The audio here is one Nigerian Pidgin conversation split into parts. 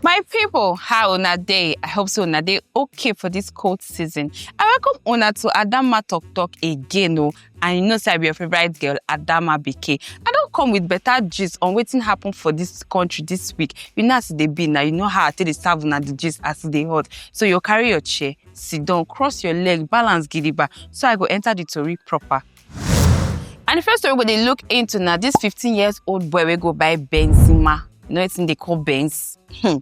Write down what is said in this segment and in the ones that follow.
My people, how una day? I hope so una day okay for this cold season. I welcome una to Adama Talk Talk again o. And you know say I be your favorite girl, Adama BK. I don come with better gist on wetin happen for this country this week. You know as e dey be na, you know how I take dey serve una the gist as e dey hot. So you carry your chair, sit down cross your leg balance gidigba so i go enter the tori proper and the first story we go dey look into na this 15 years old boy wey go buy benzema you know wetin dey call benz hmm.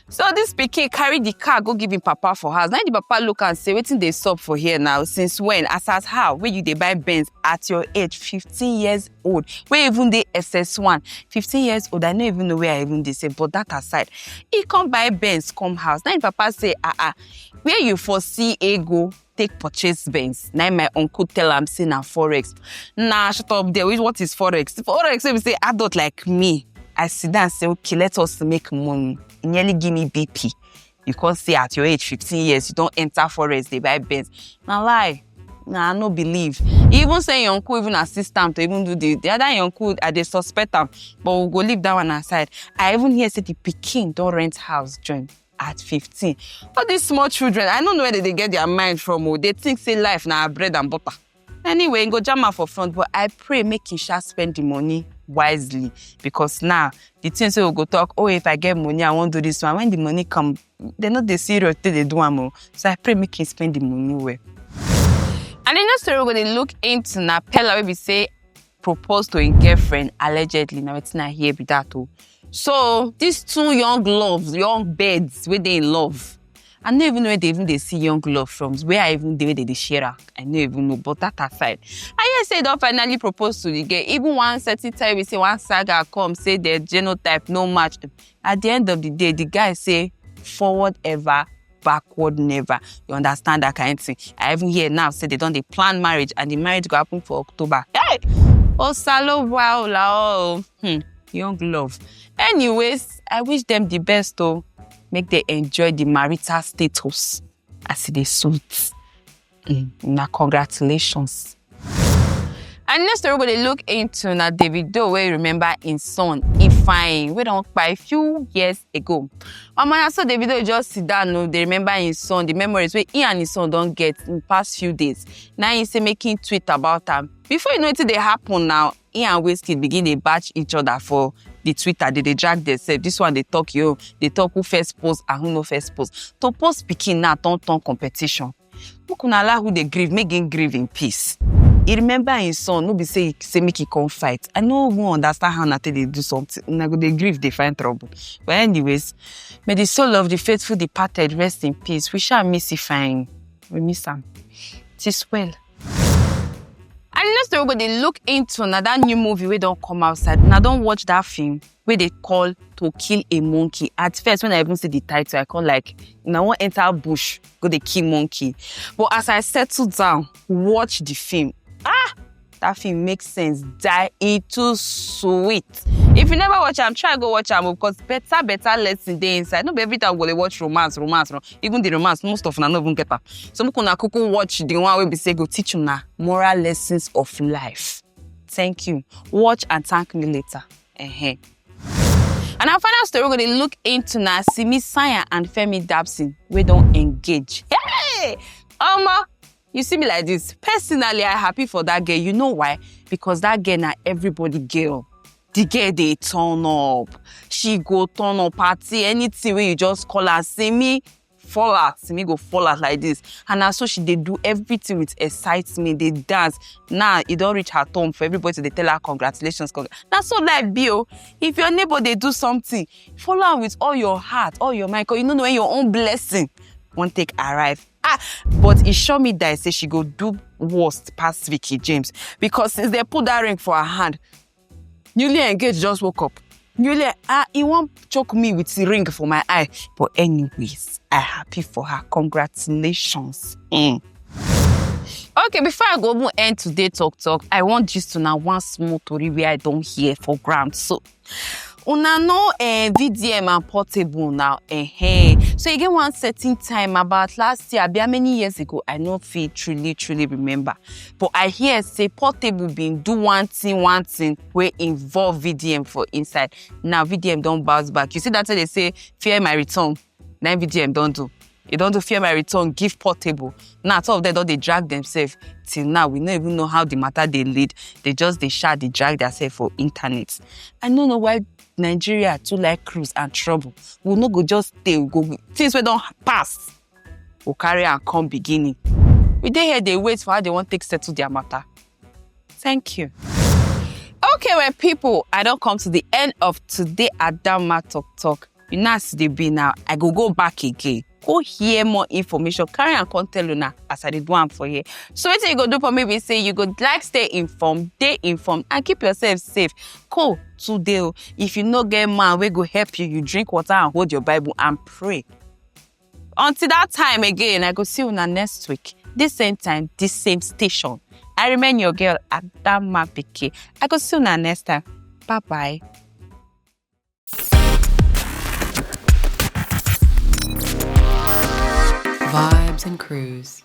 so this pikin carry the car go give him papa for house na him the papa look am say wetin dey sup for here now since when as as how wey you dey buy benz at your age 15 years old wey even dey ss1 15 years old i no even know where i even dey say but that aside he come buy benz come house na him papa say ah ah where you for see ego take purchase benz na him my uncle tell am say na forex na shut up there which what is forex forex wey be say adult like me i sit down say okay let us make money he nearly give me bp you come say at your age fifteen years you don enter forest dey buy benz na lie na i no believe he even say im uncle even assist am to even do the the other im uncle i dey suspect am but we go leave that one aside i even hear say the pikin don rent house join at fifteen all these small children i no know where they dey get their mind from o they think say life na bread and butter. anyway im go jam am for front but i pray make im sha spend the money wisely because now the things wey we go talk oh if i get money i wan do this one when the money come dem no dey serious take dey do am o so i pray make im spend the money well. and the next story we go dey look into na pella wey be say propose to im girlfriend allegedly na wetin i hear be that o oh. so these two young loves young birds wey dey in love i no even know where they even dey see young love from where i even dey where they dey share am i no even know but that aside i hear say e don finally propose to the girl even one certain time we say one saga come say their genotype no match at the end of the day the guy say forward ever backward never you understand that kind of thing i even hear now say they don't they plan marriage and the marriage go happen for october hey osalo wow la oh hmm, young love anyways i wish them the best oh make they enjoy the marital status as it is suits. Mm, na congratulations. And next story we dey look into na Davido wey remember im son Ifeanyi wey don kpai few years ago. Omo na so Davido just sit down o dey remember im son, the memories wey he and im son don get in past few days. Na im say make im tweet about am. Before you know wetin dey happen now, he and Wizkid begin dey batch each other for the Twitter. They dey drag themselves. This one they talk yo, they talk who first post and who no first post. To post picking now turn turn competition. Make una allow who dey grieve, make him grieve in peace. He remember his son, no be say he say make he come fight. I no even understand how una take dey do something. Una go dey grieve, dey find trouble. But anyways, may the soul of the faithful departed rest in peace. We shall miss Ifeanyi. We miss am. Tis well. And you know say we go dey look into na that new movie wey don come outside. Una don watch that film wey dey call To Kill a Monkey. At first, when I even see the title, I come like, una wan enter bush go dey kill monkey. But as I settle down, watch the film, ah, that film make sense die. E too sweet. If you never watch am, try go watch am o, because better better lesson dey inside. No be every time we go dey watch romance, romance, romance. even the romance most of una no even get am so make una kuku watch the one wey be say go teach una moral lessons of life thank you watch and thank me later. Uh -huh. And our final story, we're going to look into now Simi Sanya and Femi Dabson. We don't engage. Hey! Omo, you see me like this personally i happy for that girl you know why because that girl na everybody girl the girl dey turn up she go turn up party anything wey you just call her see me fall out see me go fall out like this and na so she dey do everything with excitement dey dance now e don reach her turn for everybody to dey tell her congratulations congr na so life be o if your neighbor dey do something follow am with all your heart all your mind cause you no know when your own blessing wan take arrive Ah, but e sure me die say she go do worst pass Vicky James because since they put that ring for her hand, newly engaged just woke up. Newly, ah, he won't choke me with the ring for my eye. But anyways, I happy for her. Congratulations. Mm. Okay, before I go end today talk talk, I want just to now one small story where I don't hear for ground. So una no eh, vdm and portable now eh, eh. so e get one certain time about last year abi how many years ago i no fit truly truly remember but i hear say portable bin do one thing one thing wey involve vdm for inside now vdm don bounce back you see that thing dey say fear my return na vdm don do e don do fear my return give portable now two of them don dey drag themselves till now we no even know how the matter dey lead they just dey sha dey drag themselves for internet i no know why nigeria too like cruise and trouble we no go just stay we go things wey don pass go carry am come beginning we dey here dey wait for how they wan take settle their matter Thank you. Okay, my people, I don't come to the end of today Adama Talk Talk. You know as they be now, I go go back again. Go hear more information. Carry and come tell now as I did one for here. So what you go do for me We say you go like stay informed, stay informed, and keep yourself safe. Cool today. Oh. If you no get man, we go help you. You drink water and hold your Bible and pray. Until that time again, I go see una next week. This same time, this same station. I remain your girl, Adama Biki. I go see una next time. Bye bye. Vibes and Cruise.